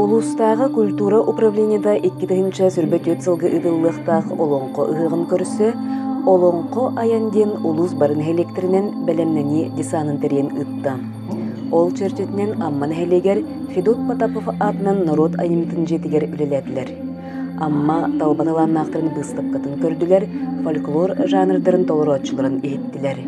Улуустааҕы культура управлениета икки тыһыынча сүүрбэ түөрт сылга ыытыллыахтаах Олоҥхо ыһыаҕын көрсө «Олоҥхо айан» диэн улуус бары нэһилиэктэринэн бэлэмнэнии десанын тэрийэн ыытта. Ол чэрчитинэн Амма нэһилиэгэр Федот Потапов аатынан норуот айымньытын дьиэтигэр үлэлээтилэр. Амма талба талааннаахтарын быыстапкатын көрдүлэр, фольклор жанрдарын толорооччуларын иһиттилэр.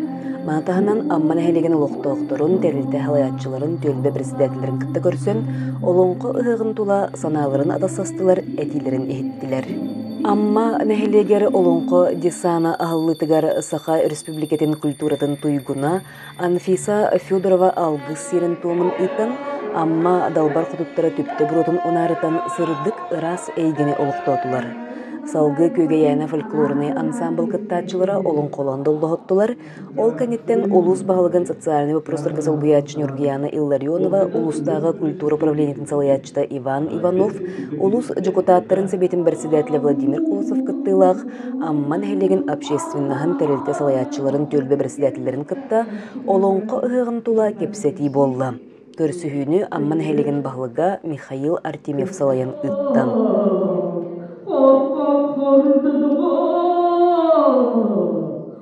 Маны таһынан Амма нэһилиэгин олохтоохторун, тэрилтэ салайааччыларын, түөлбэ председателлэрин кытта көрсөн, олоҥхо ыһыгын тула санааларын атастастылар, этиилэрин иһиттилэр. Амма нэһилиэгэр олоҥхо десана аһыллыытыгар Саха Республикатын культуратын туйгуна, Анфиса Федорова алгыс сиэрин-туомун ыытан, Амма Далбар Хотуттара түптэ буруотун унаарытан сырдык, ыраас эйгэни олохтоотулар. Салгыы Күөгэйээнэ фольклорнай ансаамбыл кыттааччылара олоҥхолоон доллоһоттулар. Ол кэнниттэн улуус баһылыгын социальнай боппуруостарга солбуйааччы Ньургуйаана Илларионова, улуустааҕы культура управлениетын салайааччыта Иван Иванов, улуус дьокутааттарын сэбиэтин председателэ Владимир Колосов кыттыылаах Амма нэһилиэгин общественноһын тэрилтэ салайааччыларын түөлбэ председателлэрин кытта Олоҥхо ыһыаҕын тула кэпсэтии буолла. Көрсүһүүнү Амма нэһилиэгин баһылыга Михаил Артемьев салайан ыытта.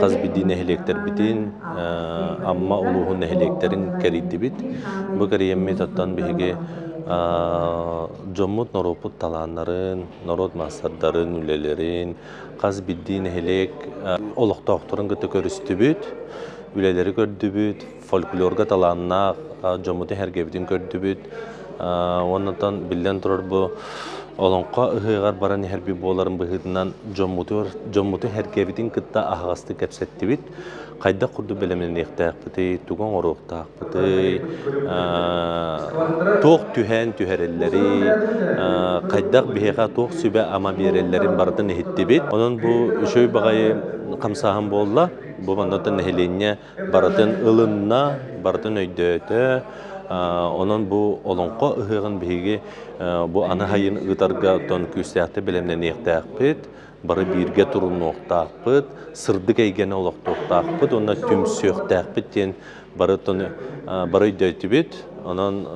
хас биирдии нэһилиэктэрбитин Амма улууһун нэһилиэктэрин кэрийдибит. Бу кэрийэммитаттан биһиги дьоммут-норуоппут талааннарын, норуот маастардарын үлэлэрин хас биирдии нэһилиэк олохтоохторун кытта көрүстүбүт, үлэлэри көрдүбүт, фольклорга талааннаах дьоммутун эһэргэбитин көрдүбүт уоннатан биллэн турар бу Олоҥхо ыһыаҕар баран иһэрбит буоларын быһыытынан дьоммуту дьоммуту эһэргэбитин кытта аһаҕастык кэпсэттибит. Хайдах курдук бэлэмнэниэхтээхпитий, тугу оҥоруохтаахпытый, туох түһээн түһэрэллэрий, хайдах биһиэхэ туох сүбэ-ама биэрэллэрин барытын иһиттибит. Онон бу үчүгэй баҕайы хамсааһын буолла. Бу маннаттан нэһилиэнньэ барытын ылынна, барытын өйдөөтө. Онон бу Олоҥхо ыһыаҕын биһиги бу аны сайын ыытарга оттон күүстээхтик бэлэмнэниэхтээхпит. Бары бииргэ турунуохтаахпыт, сырдык эйгэни олохтуохтаахпыт уонна түмсүөхтээхпит диэн барытын бары өйдөөтүбүт. Онон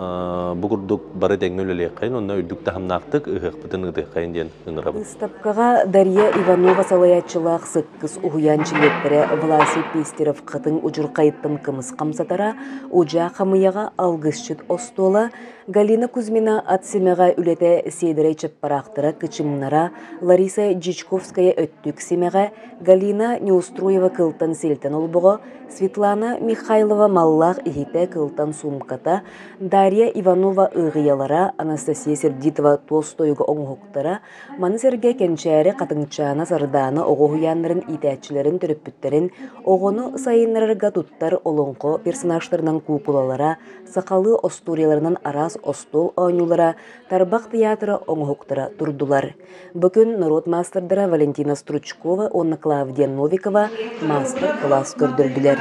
бу курдук бары тэҥҥэ үлэлиэххин уонна үрдүк таһымнаахтык ыһыахпытын ыытыаххайын диэн ыҥырабын. Быыстапкаҕа Дария Иванова салайааччылаах Кыс уһуйаан чилиэттэрэ Власий Пестерев Хатыҥ удьурхайыттан кымыс хамсатара, удьаа хамыйаҕа алгысчыт остуола, Галина Кузьмина ат симэҕэ үлэтэ Сиэдэрэй чаппараахтара кычымнара, Лариса Дьячковская өттүк симэҕэ, Галина Неустроева кылтан силтэн олбоҕо, Светлана Михайлова маллаах иһитэ кылтан суумката, Дарья Иванова ыҕыйалара, Анастасия Сердитова туос тойуга оҥоһуктара, Маны сэргэ кэнчээри Хатыҥчаана Сардаана оҕо уһуйааннарын иитээччилэрин төрөппүттэрин оҕону сайыннарарга туттар олоҥхо персонажтарынан куукулалара, сахалыы остуоруйаларынан араас остуол оонньуулара, тарбах тыйаатыра оҥоһуктара турдулар. Бу күн норуот маастардара Валентина Стручкова уонна Клавдия Новикова маастар-кылаас көрдөрдүлэр.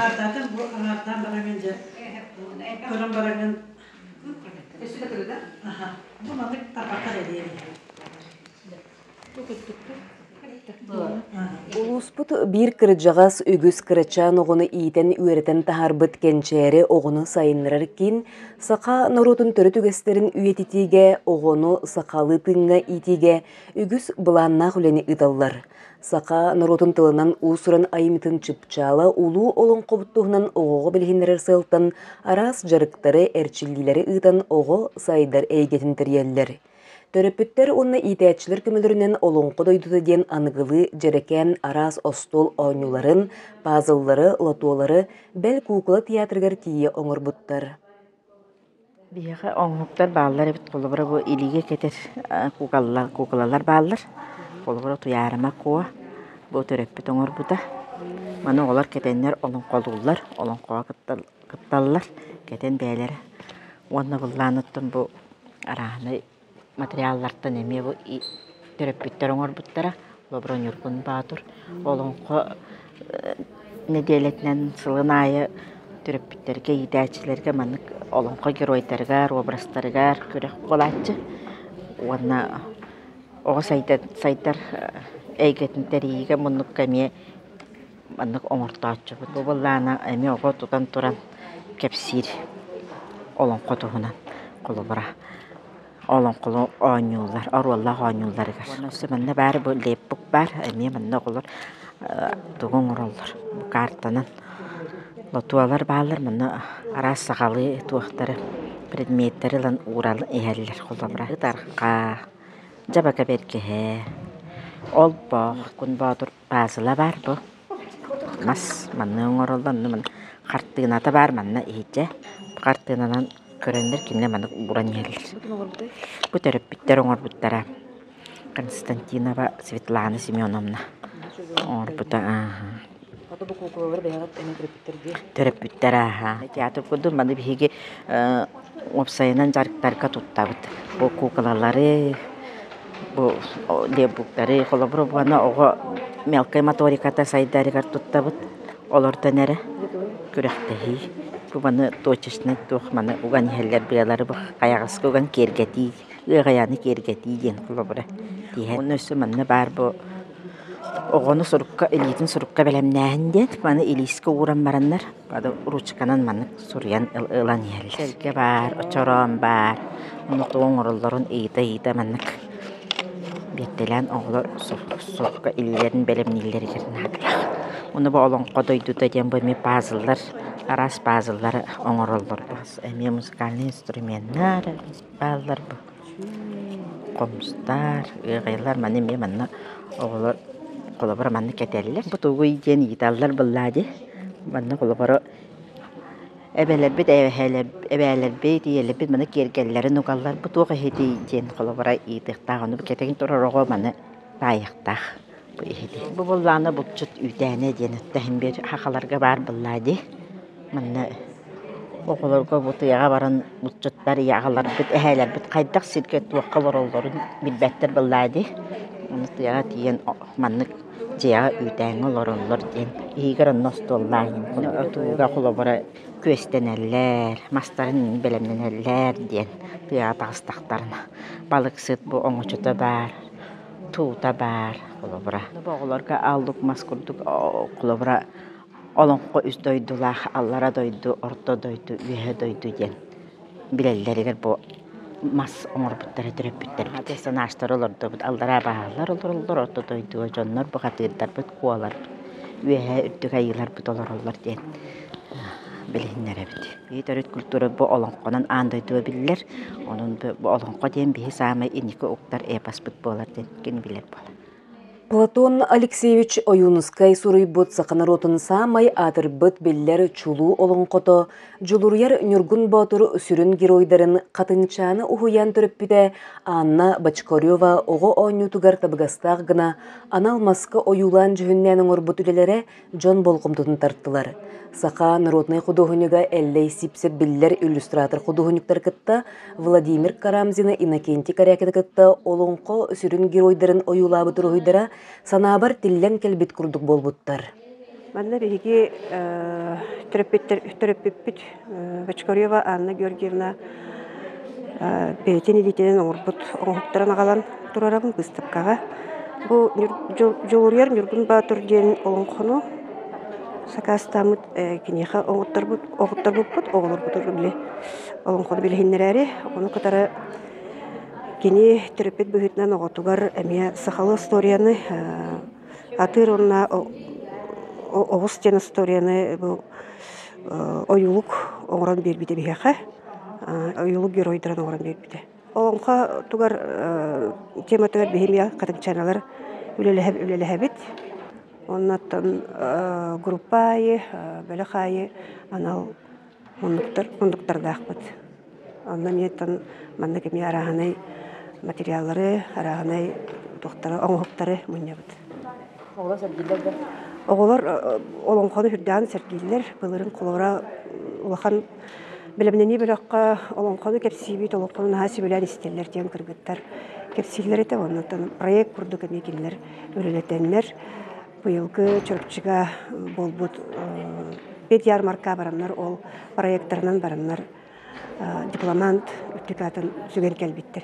көрөн бараҥын Өссө кытырыда. Бу маннык тарбаттар эдиэри. Бу кыттыктыр. Улууспут биир кырдьаҕас үгүс кырачаан оҕону иитэн үөрэтэн таһарбыт кэнчээри оҕону сайыннарар кин саха норуотун төрүт үгэстэрин үйэтитиигэ, оҕону сахалыы тыыҥҥа иитиигэ үгүс былааннаах үлэни ыыталлар. Саха норуотун тылынан уус-уран айымньытын чыпчаала улуу олоҥхобут туһунан оҕоҕо билиһиннэрэр сыалтан араас дьарыктары, эрчиллиилэри ыытан оҕо сайдар эйгэтин тэрийэллэр. Төрөппүттэр уонна иитээччилэр көмөлөрүнэн Олоҥхо дойдута диэн аныгылыы дьэрэкээн араас остуол оонньууларын, пазллары, лотуолары бэл куукула театрыгар тиийэ оҥорбуттар. Биһиэхэ оҥоһуктар бааллар эбит. Холобура бу илиигэ кэтэр куукалалар куукалалар бааллар. Холобура Туйаарыма Куо бу төрөппүт оҥорбута. Маны оҕолор кэтэннэр олоҥхолууллар, олоҥхоҕо кытталлар, кэтэн бэйэлэрэ уонна быллаан оттон бу арааһынай Материаллартан эмиэ бу төрөппүттэр оҥорбуттара Лобро Ньургун Боотур. Олоҥхо нэдиэлэтинэн сылын аайы төрөппүттэргэ, иитээччилэргэ маннык олоҥхо геройдарыгар, образтарыгар күрэх буолааччы уонна оҕо сайдар эйгэтин тэрийиигэ муннукка эмиэ маннык оҥортооччубут. Бу быллаана эмиэ оҕо тутан туран кэпсиир олоҥхо туһунан холобура. Олоҥхо оонньуулар, оруоллаах оонньууларыгар. Өссө манна баар бу лейбук баар, эмиэ манна оҕолор тугу оҥороллор. Бу каартанан лотуолар бааллар, манна араас сахалыы туохтары предметтэри ылан ууран иһэллэр холобура. Ытарха, дьабака бэргэһэ, олбох, кун боотур Паасыла баар дуо? Мас манна оҥороллор, аны хартыыната баар манна иһдьэ. Хартыынанан көрөннөр кинилэр маннык ууран иһэллэр. Бу төрөппүттэр оҥорбуттара. Константинова Светлана Семеновна оҥорбута. төрөппүттэр ааһа театр курдук маны биһиги уопсайынан дьарыктарга туттабыт бу куукалалары бу лебуктары холобура буолана оҕо мелкай моториката сайдарыгар туттабыт олортон эрэ күрэхтэһии маны точечный туох маны уган иһэллэр быалары хайаҕаска уган киэргэтии ыаҕайааны киэргэтии диэн холобура тииһэ онно өссө манна баар бу оҕону сурукка, илиитин сурукка бэлэмнээһин диэн. Маны илиискэ ууран бараннар маны ручканан маннык суруйан ылан иһэллэр. Сэргэ баар, очороон баар. Онно хатык оҥороллорун ыйыта-ыйыта маннык биэртэлээн оҕолор сурукка илиилэрин бэлэмнииллэригэр наадалаах. Ону бу Олоҥхо дойдута диэн бу эмиэ пазллар, араас пазллары оҥороллор. Эмиэ музыкальнай инструменнар бааллар бу. Хомустар, ыаҕайалар маны эмиэ манна оҕолор холобура манна кэтэллэр. Бу тугуй диэн ыйыталлар быллаа дии. Манна холобура эбэлэрбит эбээлэрбит ийэлэрбит маны киэргэллэрин угаллар. Бу туох эһитий диэн холобура ыйытыахтаах. Ону кэтэн турар оҕо маны таайыахтаах. Бу быллаана булчут үүтээнэ диэн оттоһон биэр хахаларга баар быллаа дии. Манна оҕолорго бу тыаҕа баран булчуттар ийэ аҕаларбыт, эһээлэрбит хайдах сиргэ туохха олороллорун билбэттэр быллаа дии. Ону тыаҕа тиийэн маннык дьиэҕэ үүтээҥҥэ олороллор диэн иһигэр онно остуоллаан отууга холобура күөстэнэллэр, мастарын бэлэмнэнэллэр диэн тыаҕа таҕыстахтарына. Балыксыт бу оҥочото баар. Туута баар, холобура. Оҕолорго ааллык мас курдук, холобура, олоҥхо үс дойдулаах аллара дойду, орто дойду, үөһэ дойду диэн билэллэригэр бу мас оҥорбуттара төрөппүттэрбит. Персонажтары олордубут, аллараа баһаалар олороллор, орто дойдуга дьоннор бухатыырдарбыт, куолар, үөһэ үрдүк айыыларбыт олороллор диэн. билиһиннэрэбит. И төрүт культура бу олоҥхонон аан дойдуга биллэр. Онон бу олоҥхо диэн биһи саамай инники уктар эпоспыт буолар диэн ким билэр буолар. Платон Алексеевич Ойуунускай суруйбут саха норуотун саамай аатырбыт биллэр чулуу олоҥхото Дьулуруйар Ньургун Боотур сүрүн геройдарын Хатынчааны уһуйаан төрөппүтэ Анна Бочкарева оҕо оонньуутугар табыгастаах гына анал маска ойуулаан дьүһүннээн оҥорбут үлэлэрэ дьон болҕомтотун тартылар. Саха народнай худуоһунньуга Эллэй Сипсир биллэр иллюстратор худуоһунньуктары кытта Владимир Карамзины Иннокентий Корякины кытта олоҥхо сүрүн геройдарын ойуулаабыт уруһуйдара санаабар тиллэн кэлбит курдук буолбуттар. Манна биһиги төрөппүт төрөппүппүт Бочкарева Анна Георгиевна бэйэтин илиитинэн оҥорбут оҥоһуктарын аҕалан турарабын быыстапкаҕа. Бу Дьулуруйар Ньургун Баатур диэн олоҥхону сакаастааммыт киниэхэ оҥотторбут оҥотторбуппут оҕолорбутур били олоҥхону билиһиннэрээри ону кытары кини төрөппүт быһыытынан оҕотугар эмиэ сахалыы остуоруйаны Атыыр уонна оҕус диэн остуоруйаны бу ойуулук оҥорон биэрбитэ биһиэхэ. Ойуулук геройдарын оҥорон биэрбитэ. Олоҥхо тугар тематыгар биһиги эмиэ хатыҥчаналар үлэлэһэбит. Оннуттан группа аайы, бөлөх аайы анал муннуктар муннуктардаахпыт. Онно эмиэтин маннык эмиэ арааһынай материаллары, арааһынай туохтары, оҥоһуктары мунньабыт. Оҕолор сэргииллэр да? Оҕолор олоҥхону үрдээн сэргииллэр. Былырыын Колора улахан бэлэмнэнии бөлөххө олоҥхону кэпсиибит, олоҥхону наһаа сөбүлээн истэллэр диэн кыргыттар кэпсииллэр этэ. Оннуттан проект курдук эмиэ кинилэр үлэлэтэннэр, Быйылгы чурчуга буолбут Пет ярмарка бараннар ол проектарынан бараннар дипломант үрдүк аатын сүгэн кэлбиттэр.